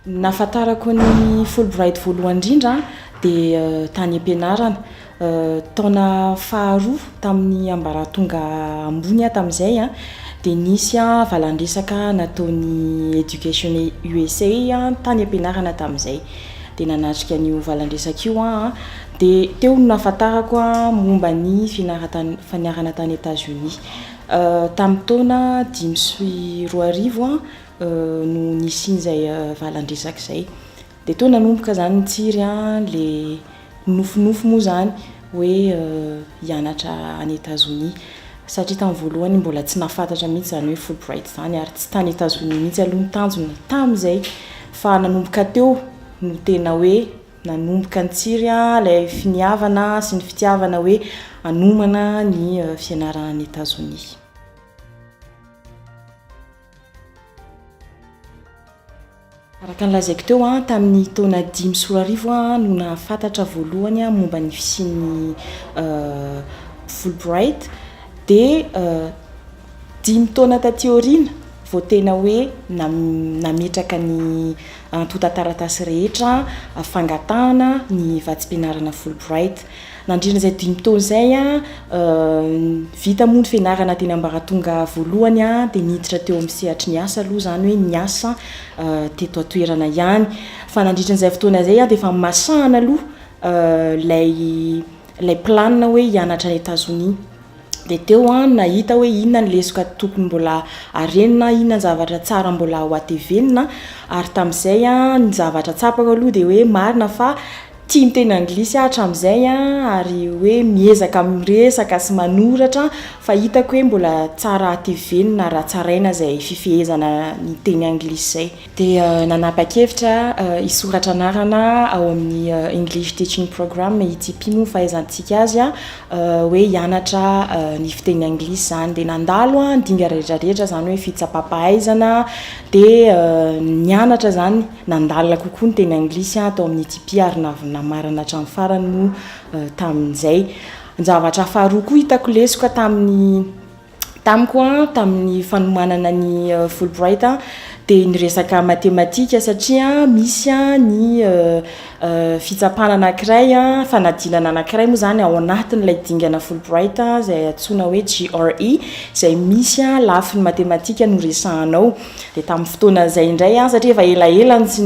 Ny nahafantarako ny Fulbright voalohany indrindra dia euh, tany am-pianarana. Euh, taona faharoa tamin'ny ambaratonga ambony tamin'izay, dia nisy valandresaka nataon'ny Education USA tany am-pianarana tamin'izay. Dia nanatrika an'io valandresaka io aho. Dia teo no nahafantarako momba ny fianarana tany Etazonia. Tamin'ny taona dimy sy roa arivo no nisian'izay valan-dresaka izay. Dia toa nanomboka izany nitsiry ilay nofinofy moa izany hoe hianatra any Etazonia. Satria tamin'ny voalohany mbola tsy nahafantatra mihitsy izany hoe Fulbright izany ary tsy tany Etazonia mihitsy aloha ny tanjona tamin'izay. Fa nanomboka teo no tena hoe... nanomboka nitsiry ilay finiavana sy ny fitiavana hoe hanomana ny fianarana any Etazonia. Araka ny lazaiko teo, tamin'ny taona dimy sy roa arivo aho no nahafantatra voalohany momba ny fisian'ny Fulbright dia Dimy taona taty aoriana vao tena hoe nametraka ny antontan-taratasy rehetra fangatahana ny vatsim-pianarana Fulbright. Nandritra izay dimy taona izay, vita moa ny fianarana teny ambaratonga voalohany dia niditra teo amin'ny sehatry ny asa aloha, izany hoe niasa teto an-toerana ihany. Fa nandritra an'izay fotoana izay dia efa masahana aloha ilay ilay planina hoe hianatra any Etazonia. Dia teo aho no nahita hoe inona ny lesoka tokony mbola harenina, inona ny zavatra tsara mbola ho atevenina. Ary tamin'izay, ny zavatra tsapako aloha dia hoe marina fa tia miteny anglisy aho hatramin'izay ary hoe miezaka miresaka sy manoratra fa hitako hoe mbola tsara hatevenina raha tsaraina izay fifehezana ny teny anglisy izay. dia nanapa-kevitra hisoratra anarana ao amin'ny English Teaching Program ity mpino nifahaizantsika azy hoe hianatra ny fiteny anglisy izany. Dia nandalo ny dingana rehetra rehetra, izany hoe fitsapam-pahaizana, dia nianatra izany, nandalina kokoa ny teny anglisy tao amin'ity mpi ary namarana hatramin'ny farany moa tamin'izay. Ny zavatra faharoa koa hitako lesoka tamin'ny Tamiko tamin'ny fanomanana ny Fulbright dia ny resaka matematika satria misy ny fitsapana anankiray, fanadinana anankiray moa izany ao anatin'ilay dingana Fulbright izay antsoina hoe GRE izay misy lafiny matematika no resahana ao. Dia tamin'ny fotoana izay indray aho, satria efa elaela no tsy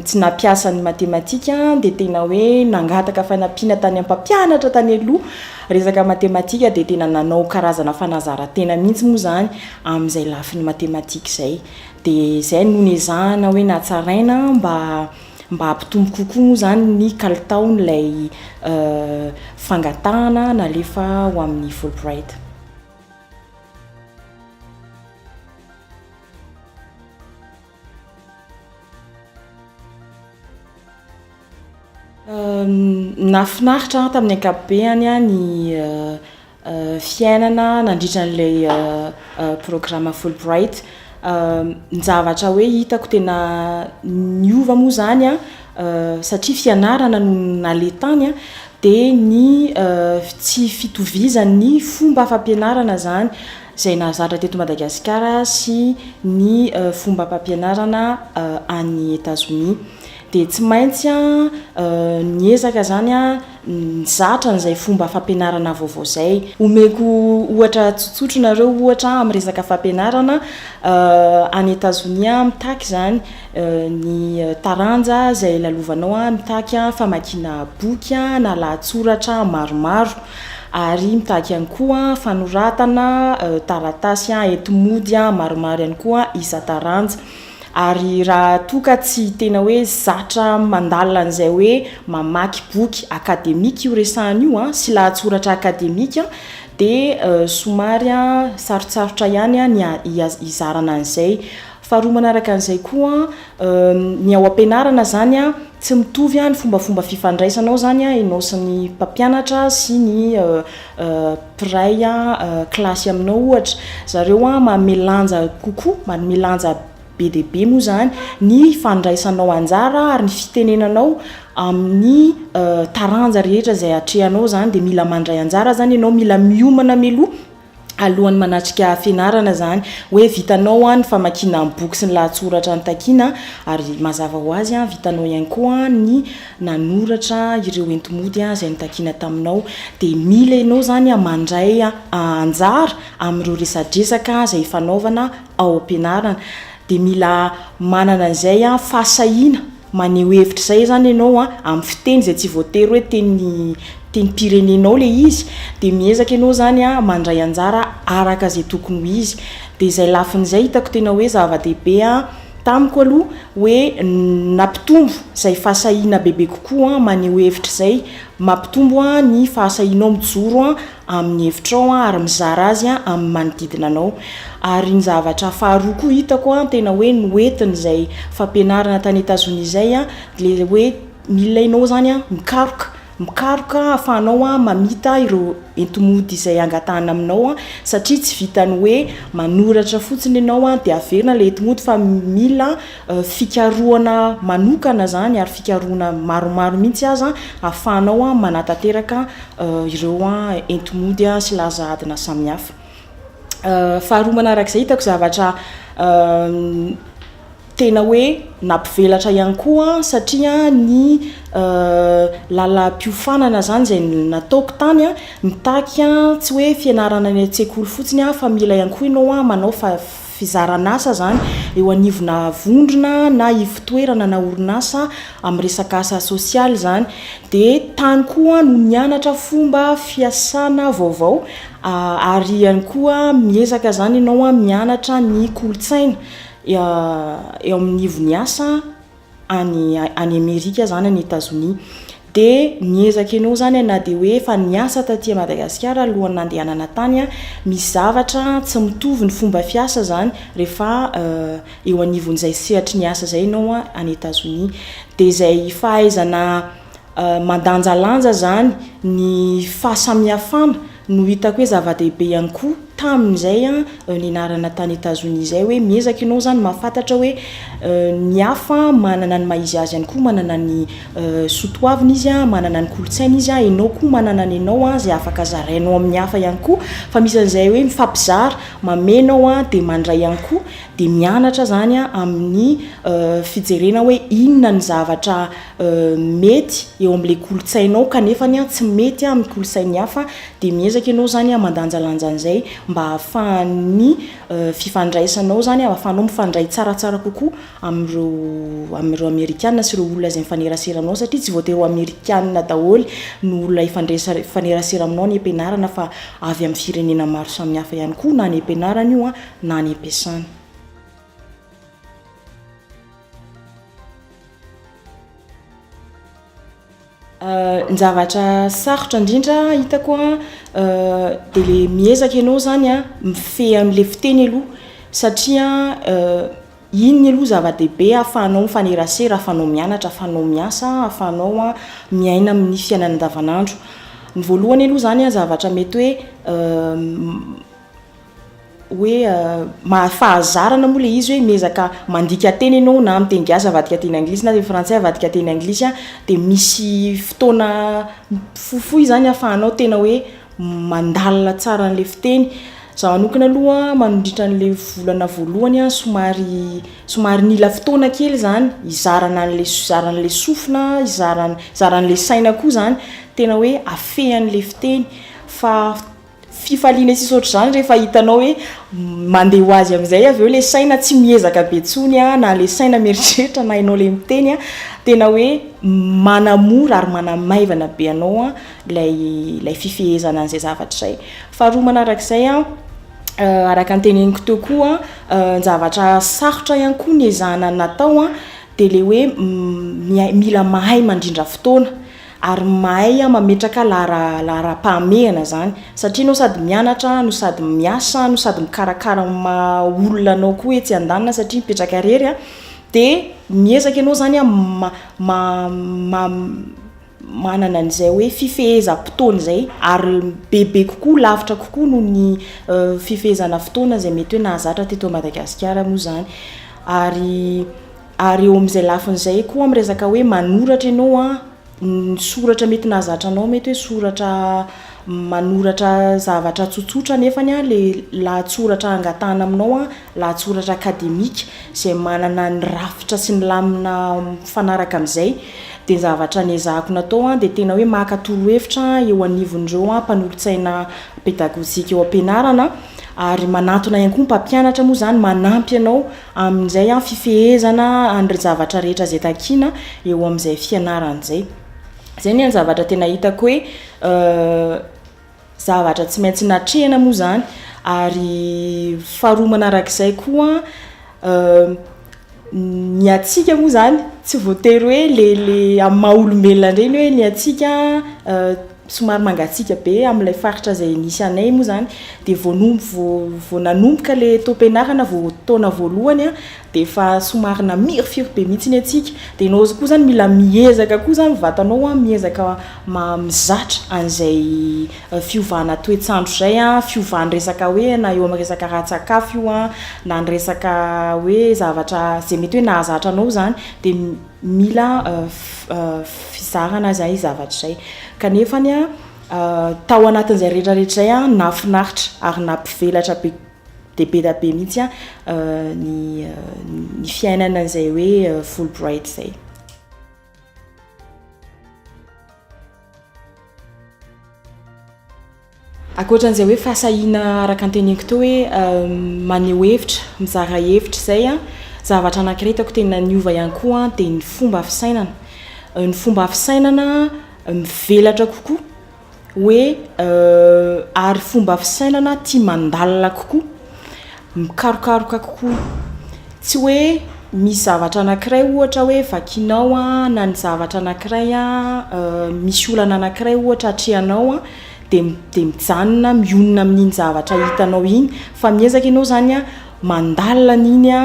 tsy nampiasa ny matematika dia tena hoe nangataka fanampiana tany amin'ny mpampianatra tany aloha. Resaka matematika dia tena nanao karazana fanazaran-tena mihitsy moa izany amin'izay lafiny matematika izay. Dia izay no nezahana hoe natsaraina mba mba hampitombo kokoa moa izany ny kalitaon'ilay fangatahana nalefa ho amin'ny Fulbright. Nahafinaritra ahy tamin'ny ankapobeny ny fiainana nandritra an'ilay programa Fulbright. Ny zavatra hoe hitako tena niova moa izany satria fianarana no naleha tany dia ny tsy fitovizan'ny fomba fampianarana izany. izay nahazatra teto Madagasikara sy ny fombam-pampianarana any Etazonia. Dia tsy maintsy niezaka izany nizatra an'izay fomba fampianarana vaovao izay. Omeko ohatra tsotsotra nareo ohatra amin'ny resaka fampianarana any Etazonia mitaky izany ny taranja izay lalovanao mitaky famakiana boky na lahatsoratra maromaro. ary mitaky ihany koa fanoratana taratasy enti-mody maromaro ihany koa isan-taranja ary raha toa ka tsy tena hoe zatra mandalina an'izay hoe mamaky boky akademika io resahana io sy lahatsoratra akademika dia somary sarotsarotra ihany ny hizarana an'izay Faharoa manaraka an'izay koa, ny ao am-pianarana izany an, tsy mitovy ny fombafomba fifandraisanao izany an, ianao sy ny mpampianatra sy ny mpiray kilasy aminao ohatra. Zareo an, manome lanja kokoa, manome lanja be dia be moa izany ny fandraisanao anjara ary ny fitenenanao amin'ny taranja rehetra izay atrehanao izany dia mila mandray anjara izany ianao, mila miomana mialoha. alohan'ny manatrika fianarana izany hoe vitanao ny famakiana ny boky sy ny lahatsoratra nitakiana ary mazava ho azy vitanao ihany koa ny nanoratra ireo entimody izay nitakiana taminao dia mila ianao izany mandray anjara amin'ireo resadresaka izay hifanaovana ao am-pianarana dia mila manana izay fahasahiana Maneho hevitra izay izany ianao amin'ny fiteny izay tsy voatery hoe teny tenim-pirenenao ilay izy, dia miezaka ianao izany mandray anjara araka izay tokony ho izy. Dia izay lafiny izay hitako tena hoe zava-dehibe tamiko aloha hoe nampitombo izay fahasahiana bebe kokoa maneho hevitra izay, mampitombo ny fahasahianao mijoro amin'ny hevitrao an, ary mizara azy an amin'ny manodidina anao, ary ny zavatra faharoa koa hitako an tena hoe noentiny izay fampianarana tany Etazonia izay an, dia ilay hoe ny olona enao izany an mikaroka, mikaroka ahafahanao an mamita ireo entomody izay angatahana aminao an, satria tsy vitan'ny hoe manoratra fotsiny ianao an dia averina ilay entomody fa mila fikarohana manokana izany ary fikarohana maromaro mihitsy aza ahafahanao manatanteraka ireo enti-mody sy laza adina samihafa. Faharoa manarak'izay hitako zavatra tena hoe nampivelatra ihany koa satria ny lalam-piofanana izany izay nataoko tany mitaky tsy hoe fianarana any an-tsekoly fotsiny fa mila ihany koa ianao manao fizaran'asa izany eo anivona vondrona na ivotoerana na orinasa amin'ny resaka asa sosialy izany. Dia tany koa no nianatra fomba fiasana vaovao ary ihany koa miezaka izany ianao mianatra ny kolontsaina eo amin'ny ivon'ny asa. any any Amerika zany any Etazonia dia niezaka ianao zany na dia hoe efa niasa taty Madagasikara alohan'ny nandehanana tany misy zavatra tsy mitovy ny fomba fiasa zany rehefa eo anivon'izay sehatry ny asa zay ianao any Etazonia dia izay fahaizana mandanjalanja zany ny fahasamihafana No hitako hoe zava-dehibe ihany koa taminy izay nianarana tany Etazonia izay hoe miezaka ianao izany mahafantatra hoe ny hafa manana ny maha izy azy ihany koa, manana ny soa toaviny izy, manana ny kolontsainy izy, ianao koa manana ny anao izay afaka zarainao amin'ny hafa ihany koa. Fa misy an'izay hoe mifampizara, mameno aho dia mandray ihany koa, dia mianatra izany amin'ny fijerena hoe inona ny zavatra. mety eo amin'ilay kolontsainao kanefa tsy mety amin'ny kolontsain'ny hafa dia miezaka ianao izany mandanjalanja an'izay mba hahafahan'ny fifandraisanao izany, hahafahanao mifandray tsaratsara kokoa amin'ireo amin'ireo amerikana sy ireo olona izay mifanerasera aminao satria tsy voatery ho amerikana daholo ny olona hifandresa- hifanerasera aminao any am-pianarana fa avy amin'ny firenena maro samihafa ihany koa na any am-pianarana io an na any am-piasana. Ny zavatra sarotra indrindra hitako a dia ilay miezaka ianao izany a mifehy an'ilay fiteny aloha satria iny aloha zava-dehibe ahafahanao mifanerasera, ahafahanao mianatra, ahafahanao miasa, ahafahanao miaina amin'ny fiainana andavanandro. Ny voalohany aloha izany a zavatra mety hoe hoe mahafahazarana moa le izy hoe miezaka mandika teny ianao na miteny gasy avadika teny anglisy na teny frantsay avadika teny anglisy a dia misy fotoana fohifohy izany ahafahanao tena hoe mandalina tsara an'ilay fiteny izaho manokana aloha mandritra an'ilay volana voalohany a somary somary nila fotoana kely izany hizarana an'ilay hizarana an'ilay sofina hizarana hizarana an'ilay saina koa izany tena hoe afehy an'ilay fiteny fa fifaliana tsy saotra izany rehefa hitanao hoe mandeha ho azy amin'izay avy eo ilay saina tsy miezaka be intsony an, na ilay saina mieritreritra na ianao ilay miteny an, tena hoe manamora ary manamaivana be anao an ilay ilay fifehezana an'izay zavatra izay. Faharoa manarak'izay an, araka ny teneniko teo koa an, zavatra sarotra ihany koa ny ezahana ny natao an dia ilay hoe mia mila mahay mandrindra fotoana, ary mahay mametraka laharam-pahamehana zany satria anao sady mianatra no sady miasa no sady mikarakara ny maha olona anao koa etsy andaniny satria mipetraka rery a de miezaka ianao zany a manana an'izay hoe fifehezam-potoana izay ary bebe kokoa lavitra kokoa noho ny fifehezana fotoana izay mety hoe nahazatra teto Madagasikara moa zany ary Ary eo amin'izay lafiny izay koa miresaka hoe manoratra ianao an, ny soratra mety nahazatra anao mety hoe soratra manoratra zavatra tsotsotra nefany an ilay lahatsoratra angatahana aminao an, lahatsoratra akademika izay manana ny rafitra sy ny lamina mifanaraka amin'izay. Dia ny zavatra niezahako natao an dia tena hoe maka torohevitra eo anivon'ireo mpanolotsaina pedagojika eo am-pianarana an, ary manantona ihany koa ny mpampianatra moa izany manampy anao. Amin'izay an, fifehezana an'ireo zavatra rehetra izay takiana eo amin'izay fianarana izay. Izay anie ny zavatra tena hitako hoe zavatra tsy maintsy natrehina moa izany, ary faharoa manarak'izay koa ny antsika moa izany tsy voatery hoe le le amin'ny maha olombelona indray ny hoe ny antsika somary mangatsiaka be amin'ilay faritra izay nisy anay moa izany dia vao vao vao nanomboka ilay taom-pianarana vao taona voalohany a dia efa somary namirifiry be mihitsy ny antsika dia ianao koa izany mila miezaka koa izany ny vatanao a miezaka mizatra an'izay fiovana toetr'andro izay a fiovan'ny resaka hoe na eo amin'ny resaka ara-tsakafo io a na ny resaka hoe zavatra izay mety hoe nahazatra anao izany dia mila fizarana izay zavatra izay kanefa ny tao anatin'izay rehetra rehetra izay aho nafinaritra ary nampivelatra be dia be dia be mihitsy aho ny ny fiainana izay hoe full bright izay Ankoatra an'izay hoe fahasahiana araka ny teneniko teo hoe maneho hevitra, mizara hevitra izay an, zavatra anankiray hitako tena niova ihany koa an dia ny fomba fisainana. Ny fomba fisainana mivelatra kokoa hoe ary fomba fisainana tia mandalina kokoa. mikarokaroka kokoa. Tsy hoe misy zavatra anankiray ohatra hoe vakinao na ny zavatra anankiray misy olana anankiray ohatra atrehanao dia dia mijanona mionona amin'iny zavatra hitanao iny fa miezaka ianao izany a mandalina an'iny a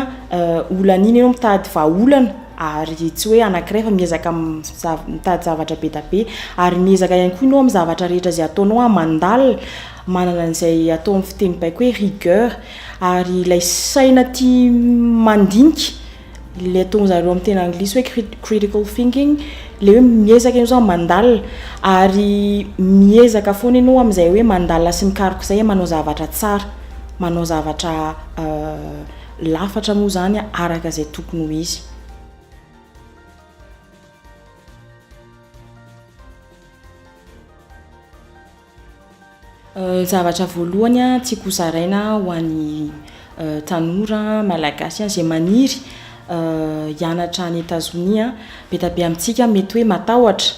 olana iny ianao mitady vahaolana ary tsy hoe anankiray fa miezaka mitady zavatra be dia be ary miezaka ihany koa ianao amin'ny zavatra rehetra izay ataonao mandalina Manana an'izay atao amin'ny fiteny baiko hoe rigueur, ary ilay saina tia mandinika, ilay ataon-dry zareo amin'ny teny anglisy hoe critical thinking, ilay hoe miezaka ianao izany mandalina, ary miezaka foana ianao amin'izay hoe mandalina sy mikaroka izay, manao zavatra tsara, manao zavatra lafatra moa izany araka izay tokony ho izy. Zavatra voalohany tiako ho zaraina ho an'ny tanora malagasy izay maniry hianatra any Etazonia, be dia be amintsika mety hoe matahotra,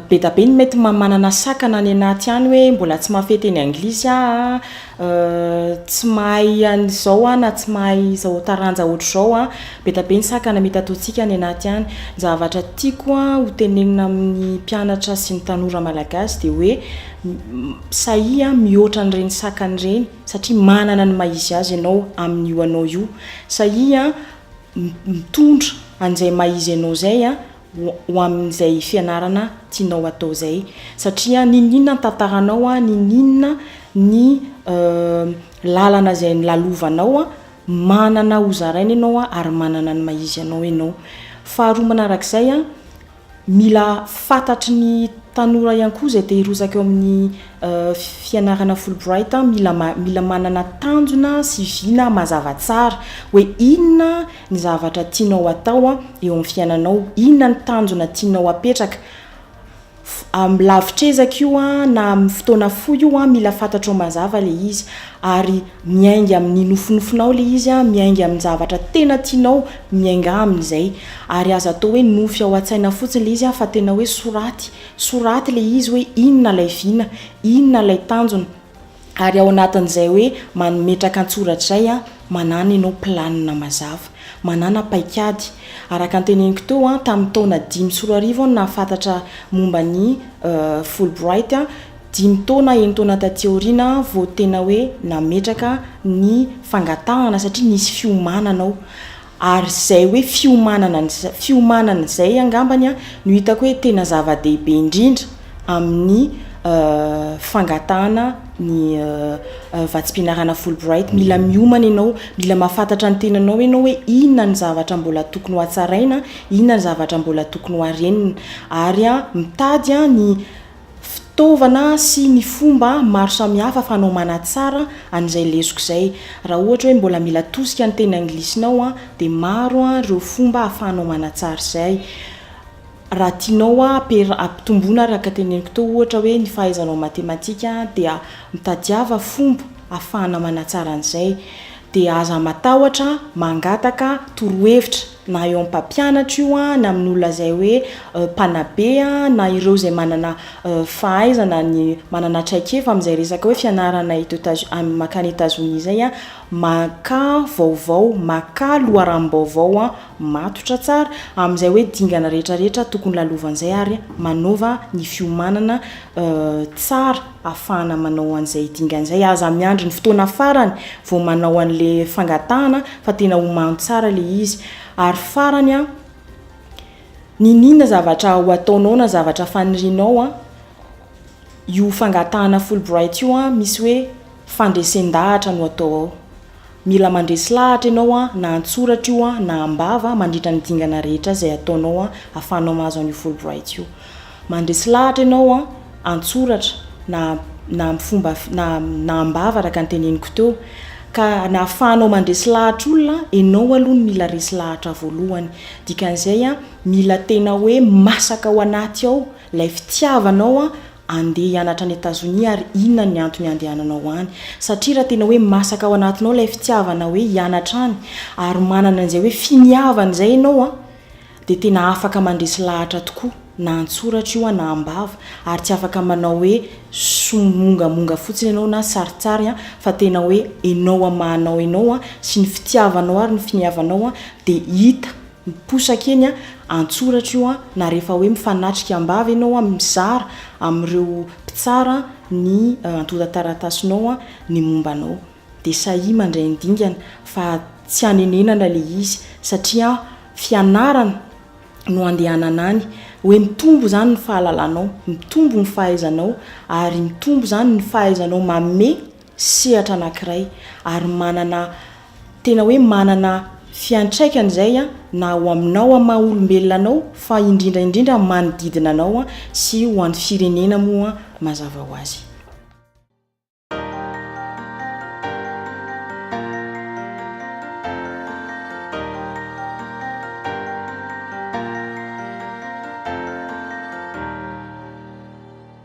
be dia be ny mety manana sakana any anaty any hoe mbola tsy mahafehy teny anglisy aho a. Tsy mahay an'izao aho na tsy mahay izao taranja hoatr'izao aho. Be dia be ny sakana mitatontsika any anaty any. Ny zavatra tiako ho tenenina amin'ny mpianatra sy ny tanora malagasy dia hoe sahia mihoatra an'ireny sakana ireny satria manana ny maha izy azy ianao amin'io anao io. Sahia mitondra an'izay maha izy anao izay ho amin'izay fianarana tianao atao izay satria niniana ny tantaranao an, niniana ny lalana izay nolalovanao an, manana hozaraina ianao an ary manana ny maha izy anao ianao. Faharoa manarak'izay an, mila fantatry ny tanora ihany koa izay te hirotsaka eo amin'ny fianarana Fulbright an, mila mila manana tanjona sy vina mazava tsara hoe inona ny zavatra tianao atao eo amin'ny fiainanao, inona ny tanjona tianao apetraka, amin'ny lavitr'ezaka io na amin'ny fotoana fohy io an, mila fantatrao mazava ilay izy ary miainga amin'ny nofinofinao ilay izy an, miainga amin'ny zavatra tena tianao, miainga amin'izay ary aza atao hoe nofy ao an-tsaina fotsiny ilay izy fa tena hoe soraty, soraty ilay izy hoe inona ilay vina, inona ilay tanjona. Ary ao anatin'izay hoe mametraka an-tsoratra izay an, manana ianao planina mazava, manana paikady. Araka ny teneniko teo an, tamin'ny taona dimy sy roa arivo aho no nahafantatra momba ny Fulbright, dimy taona, enina taona taty aoriana aho vao tena hoe nametraka ny fangatahana satria nisy fiomanana ao. Ary izay hoe fiomanana ny fiomanana izay angambany no hitako hoe tena zava-dehibe indrindra amin'ny fangatahana ny vatsim-pianarana Fulbright. Mila miomana ianao, mila mahafantatra ny tenanao ianao hoe inona ny zavatra mbola tokony hohatsaraina, inona ny zavatra mbola tokony hoharenina. Ary mitady ny fitaovana sy ny fomba maro samihafa fanao manatsara an'izay lesoka izay. Raha ohatra hoe mbola mila tosika ny teny anglisinao dia maro ireo fomba ahafahanao manatsara izay. Raha tianao ampitomboina araka teneniko teo ohatra hoe ny fahaizanao matematika dia mitadiava fomba ahafahana manatsara an'izay. Dia aza matahotra mangataka torohevitra. na eo amin'ny mpampianatra io na amin'ny olona izay hoe mpanabe na ireo izay manana fahaizana ny manana traikefa amin'izay resaka hoe fianarana eto Etazo- am- mankany Etazonia izay, makà vaovao, makà loharanom-baovao matotra tsara amin'izay hoe dingana rehetrarehetra tokony lalovan'izay ary manaova ny fiomanana tsara. afahana manao an'izay dingana izay. Aza miandry ny fotoana farany vao manao an'ilay fangatahana fa tena omano tsara ilay izy. Ary farany an, n'inon'inona zavatra ho ataonao na zavatra fanirianao an, io fangatahana Fulbright io an, misy hoe fandresen-dahatra no atao ao. Mila mandresy lahatra ianao an, na an-tsoratra io an, na am-bava, mandritra ny dingana rehetra izay ataonao an, ahafahanao mahazo an'io Fulbright io. Mandresy lahatra ianao an, an-tsoratra, na, na amin'ny fomba, na, na am-bava araka ny teneniko teo. Ka na ahafahanao mandresy lahatra olona an, ianao aloha no mila resy lahatra voalohany. Dikan'izay an, mila tena hoe masaka ao anaty ao ilay fitiavanao an, Andeha hianatra any Etazonia ary inona ny antony handehananao any? Satria raha tena hoe masaka ao anatinao ilay fitiavana hoe hianatra any ary manana an'izay hoe finiavana izay ianao an, dia tena afaka mandresy lahatra tokoa na an-tsoratra io an na am-bava ary tsy afaka manao hoe somongamonga fotsiny ianao na sarintsary an, fa tena hoe enao amin'ny maha anao enao an, sy ny fitiavanao ary ny finiavanao an, dia hita. miposaka eny an-tsoratra io na rehefa hoe mifanatrika am-bava ianao mizara amin'ireo mpitsara ny antontan-taratasinao ny momba anao dia sahia mandray ny dingana fa tsy hanenenana ilay izy satria fianarana no handehanana any hoe mitombo izany ny fahalalanao, mitombo ny fahaizanao ary mitombo izany ny fahaizanao manome sehatra anankiray ary manana tena hoe manana fiantraikany izay na ho aminao amin'ny maha olombelona anao fa indrindra indrindra amin'ny manodidina anao sy ho an'ny firenena moa mazava ho azy.